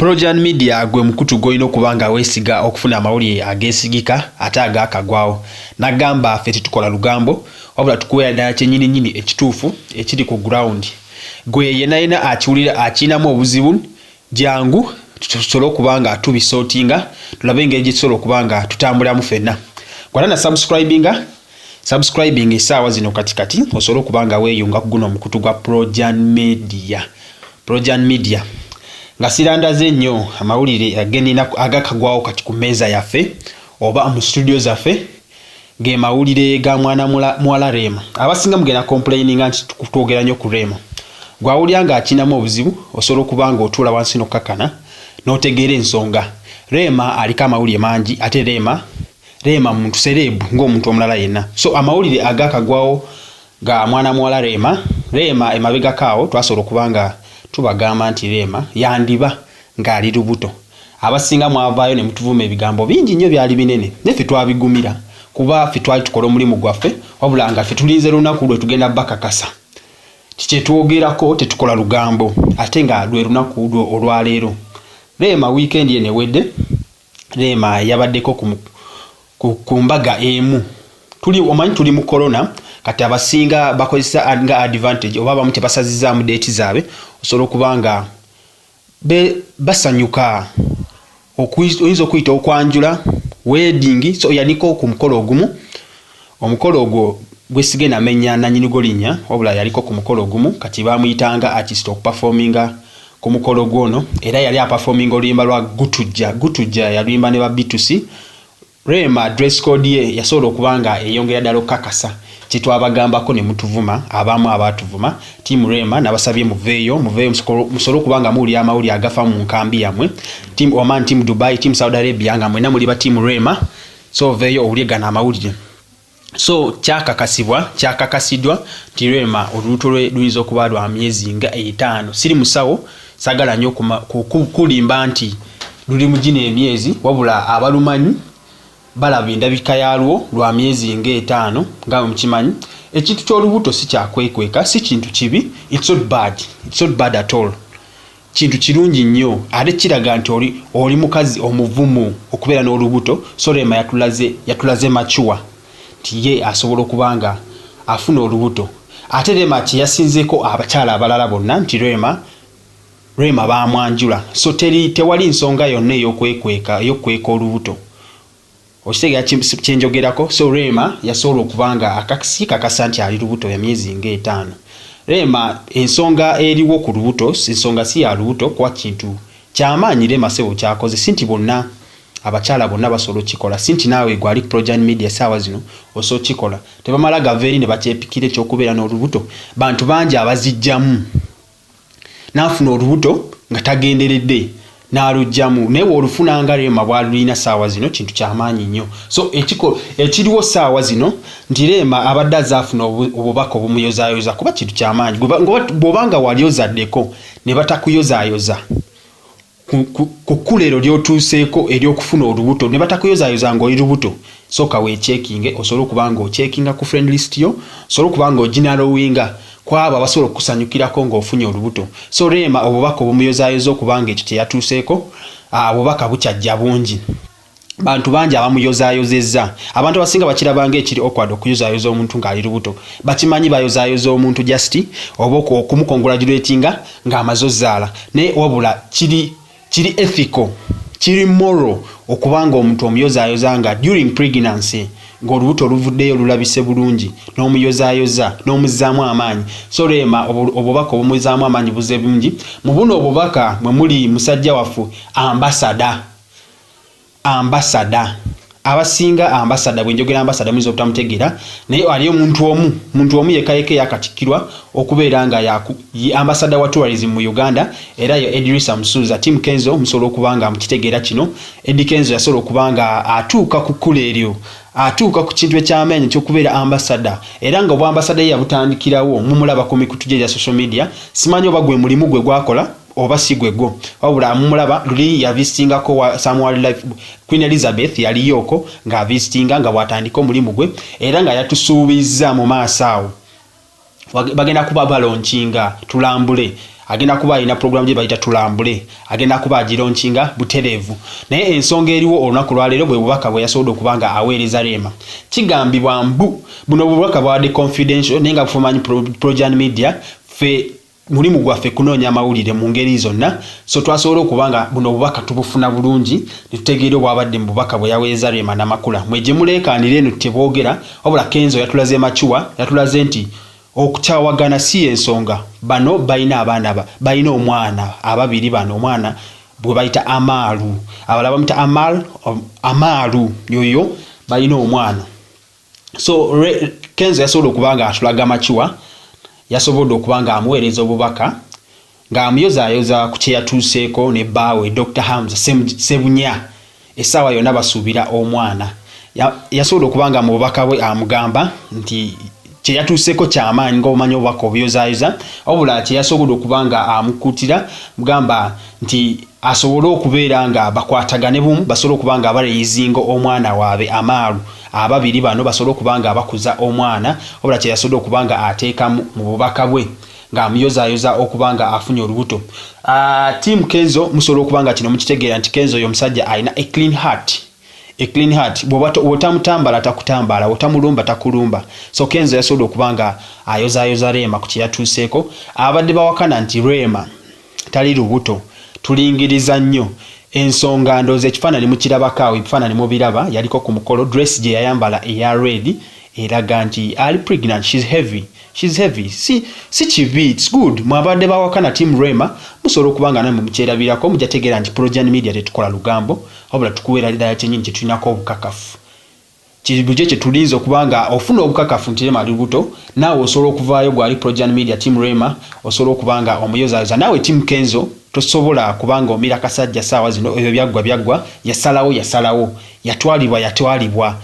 Projan Media gwe mukutu gw'olina okuba nga weesiga okufuna amawulire ageesigika ate agaakagwawo. Nagamba ffe tetukola lugambo wabula tukuweera ddala kyennyininyini ekituufu ekiri ku ground. Gwe yenayena akiwulira akirinamu obuzibu jjangu tusobole okuba nga tubisortinga tulabe engeri gye tusobola okuba nga tutambuliramu fenna. Kola na subscribinga. Subscribing esaawa zino kati kati osobole okuba nga weeyunga ku guno omukutu gwa Projan Media. Projan Media nga sirandaze nnyo amawulire agenina agakagwawo kati ku mmeeza yaffe oba mu studio zaffe ge mawulire ga mwana muwala Rema. Abasinga mugenda complaininga nti twogera nnyo ku Rema. Gwawulira ng'akinamu obuzibu osobola okuba ng'otuula wansi n'okkakana n'otegeera ensonga. Rema aliko amawulire mangi ate Rema Rema muntu serebu ng'omuntu omulala yenna so amawulire agaakagwawo ga mwana muwala Rema, Rema emabegako awo twasobola okuba nga tubagamba nti Rema yandiba ng'ali lubuto abasinga mwavaayo ne mutuvuma ebigambo bingi nnyo byali binene naye ffe twabigumira kuba ffe twali tukola omulimu gwaffe wabula nga ffe tulinze lunaku lwe tugenda bakakasa kyetwogerako tetukola lugambo ate nga lwe lunaku lwe olwaleero Rema wiikendi eno ewedde Rema yabaddeko ku, ku, ku mbaga emu tuli omanyi tuli mu corona kati abasinga bakozesa nga advantage oba abamu tebasazizaamu deeti zaabwe osobola okuba nga basanyuka oyinza okuyita okwanjula wedding so yaliko ku mukolo ogumu Omukolo ogwo gwesige namenya nanyinigwo linya wabula yaliko ku mukolo ogumu kati bamuyitanga artist okupafominga ku mukolo gwo ono era yali apafominga oluyimba lwa gutujja gutujja yaluyimba ne ba bitusi Rema dress code ye yasobola okuba nga eyongera dala okukakasa kyetwabagambako ne mutuvuma abamu abatuvuma team Rema nabasabye muveeyo muveeyo musole okuba nga muwulira amawulire agafa mu nkambi yamwe team Oman team Dubai team Saudi Arabia nga mwena muli ba team Rema so oveeyo owulye gano amawulire so kyakakasibwa kyakakasidwa nti rema olubuto lwe luyinza okuba lwa myezi nga etaano siri musawo sagala nyo kulimba nti luli mu gino emyezi wabula abalumanyi balaba endabika yalwo lwa myezi nga etaano nga mukimanyi ekintu ky'olubuto si kyakwekweka si kintu kibi it's not bad it's not bad at all Kintu kirungi nnyo ate kiraga nti oli oli mukazi omuvumu okubeera n'olubuto so Rema yatulaze yatulaze mature nti ye asobola okuba nga afuna olubuto ate Rema kyeyasinzeeko abakyala abalala bonna nti Rema Rema baamwanjula so teri tewali nsonga yonna ey'okwekweka ey'okukweka olubuto. okitegera kyenjogerako so reema yasobola okuba nga akaksi kakasa nti ali lubuto ya myezi nga etaano reema ensonga eriwo ku lubuto ensonga si ya lubuto kuba kintu kyamaanyi reema sebo kyakoze si nti bonna abakyala bonna basobola okikola si nti naawe gwali projan media saawa zino osobola okikola tebamala gava eri ne bakyepikira ekyokubeera n'olubuto bantu bangi abazijjamu n'afuna olubuto nga tagenderedde n'alugyamu naye bw'olufuna nga reema bw'alulina ssaawa zino kintu kyamaanyi nnyo so ekiko ekiriwo ssaawa zino nti reema abadde azaafuna obubaka obumuyozaayoza kuba kintu kyamaanyi bw'oba nga wali ozaddeko ne batakuyozaayoza ku kkula ero lyotuuseeko eryokufuna olubuto ne batakuyozayoza ng'oli lubuto sooka weekyekinge osobole okuba ng'okyekinga ku friend list yo osobole okuba ng'oginalowinga ku abo abasobola okukusanyukirako ng'ofunye olubuto so reema obubaka obumuyozayoza okuba ng'ekyo kye yatuuseeko ah, obubaka bukyajja bungi bantu bangi abamuyozayozezza abantu abasinga bakirabanga ekiri okwad okuyozayoza omuntu ng'ali lubuto bakimanyi bayozayoza omuntu just oba okumukongulagiretinga ng'amaze ozaala naye wabula kiri kiri ethical kiri moral okubanga omuntu omuyozayoza nga during pregnancy ng'olubuto oluvuddeyo olulabise bulungi n'omuyozayoza n'omuzzaamu amaanyi so reema obubaka obumuzzaamu amaanyi buze bungi mu buno obubaka mwe muli musajja waffe ambasada ambasada abasinga ambasada bwenjogera ambasada muyinza obutamutegeera naye ali omuntu omu muntu omu yekka yekka eyakatikkirwa okubeera nga ye ambasada wa tourism mu uganda era ye edrisa musuuza tim kenzo musobola okuba nga mukitegeera kino edi kenzo yasobola okuba nga atuuka ku kkula eryo atuuka ku kintu ekyamaanyi ekyokubeera ambasada era nga obwambasada ye yabutandikirawo mumulaba ku mikutu gye gya social media simanyi oba gwe mulimu gwe gwakola oba si gwe gwo wabula amumulaba luli yavisitingako wa some wildlife queen elizabeth yaliyooko ng'avisitinga nga bw'atandika omulimu gwe era nga yatusuubizza mu maaso awo bagenda kuba balonkinga tulambule agenda kuba alina pulogulamu gye bayita tulambule agenda kuba agironkinga butereevu naye ensonga eriwo olunaku lwaleero bwe bubaka bwe yasobodde okuba nga aweereza reema kigambibwa mbu buno bubaka bwabadde confidential naye nga bufumanyi projan media fe Mulimu gwaffe kunoonya mawulire mu ngeri zonna so twasobola okuba nga buno obubaka tubufuna bulungi ne tutegeera obwabadde mu bubaka bwe yaweerezza Rema Namakula. Mwe gye muleekaanira eno teboogera wabula Kenzo yatulaze mature, yatulaze nti okukyawagana si y'ensonga. Bano balina abaana ba, balina omwana ababiri bano omwana gwe bayita Amaru, abalala bamuyita Amar, Amaru yoyo balina omwana. so kenzo yasobola okuba nga atulaga makiwa yasobodde okuba nga amuweereza obubaka ng'amuyozayoza ku kye yatuuseeko ne bbaawe dr hamza sebunya essaawa yonna basuubira omwana yasobola okuba nga mu bubaka bwe amugamba nti kye yatuuseeko kyamaanyi ngaomanyi obubaka obuyozayoza wabula kye yasobola okuba nga amukuutira mugamba nti asobole okubeera nga bakwatagane bumu basobole okuba nga baleyizinga omwana waabwe amaalu Ababiri bano basobole okuba nga abakuza omwana wabula kye yasobodde okuba nga ateekamu mu bubaka bwe ng'amuyozaayoza okuba nga afunye olubuto. Team Kenzo musobola okuba nga kino mukitegeera nti Kenzo oyo omusajja alina a clean heart a clean heart bw'oba otamutambala takutambaala otamulumba takulumba so Kenzo yasobodde okuba nga ayozaayoza Rema ku kye yatuuseeko ababadde bawakana nti Rema tali lubuto tulingiriza nnyo ensonga ndowooza ekifaananyi mukirabako awo ebifaananyi mubiraba yaliko ku mukolo dress gye yayambala eya red eraga nti ali pregnant she's heavy she's heavy si si kibi it's good mwabadde bawakana team rema musobola okuba nga namwe mukyerabirako mujja tegeera nti projan media tetukola lugambo wabula tukuweera ddala kyenyini kyetulinako obukakafu Kiri lugye kye tulinze okuba nga ofuna obukakafu nti Rema ali lubuto naawe osobola okuvaayo gwali Projan Media team Rema osobola okuba nga omuyozayoza naawe team Kenzo tosobola kuba nga omira kasajja saawa zino ebyo byaggwa byaggwa yasalawo yasalawo yatwalibwa yatwalibwa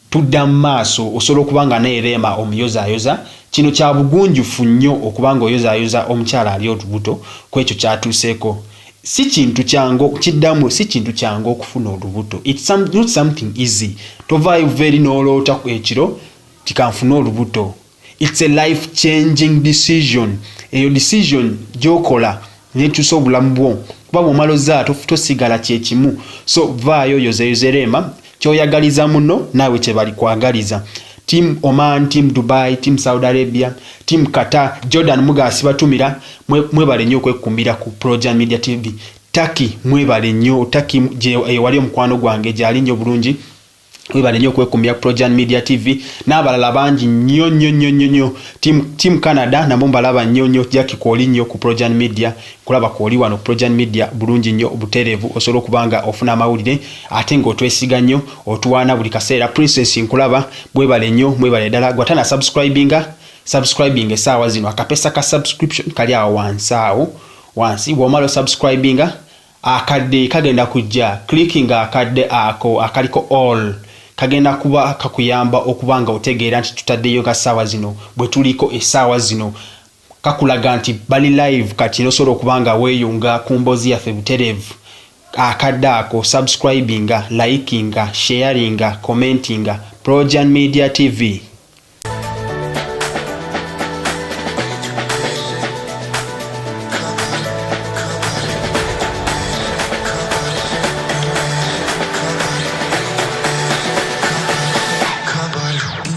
tudda mu maaso osobola okuba nga naye Rema omuyozayoza kino kya bugunjufu nnyo okuba nga oyozayoza omukyala ali olubuto kwekyo kyatuuseeko si kintu kyangu kiddamu si kintu kyangu okufuna olubuto it's some, not something easy tovaayo very noloota ekiro tikanfune olubuto it's a life changing decision eyo decision gyokola nekyusa obulamu bwo kuba bwomala ozaala tosigala kyekimu so vaayo yozeyoze reema kyoyagaliza muno naawe kyebalikwagaliza team oman team dubai team saudi arabia team qatar jordan mugasi batumira mwebale nnyo okwekumbira ku proja media tv taki mwebale nnyo taki ewali omukwano gwange gyali nnyo bulungi webale nnyo okwekumbira ku projan media tv n'abalala bangi nnyo nnyo nnyo nnyo nnyo team canada nabo mbalaba nnyo nnyo jaki kwoli nnyo ku projan media Kulaba kwo oli wano ku Projan Media bulungi nnyo, buteerevu, osobola okuba nga ofuna amawulire ate nga otwesiga nnyo, otuwaana buli kaseera. Princess nkulaba, mwebale nnyo, mwebale ddala. Gwe atana subscribinga, subscribinga esaawa zino, akapesa ka subscription kali awo wansi awo, wansi, bwomala o subscribinga, akadde kagenda kujja, clickinga akadde ako akaliko all, kagenda kuba kakuyamba okuba nga otegeera nti tutaddeyo nga saawa zino, bwetuliko esaawa zino. kakulaga nti bali live kati nosobola okuba nga weyunga kumbozi yaffe buterevu akadde ako subscribinga likinga sharinga commentinga projan media TV.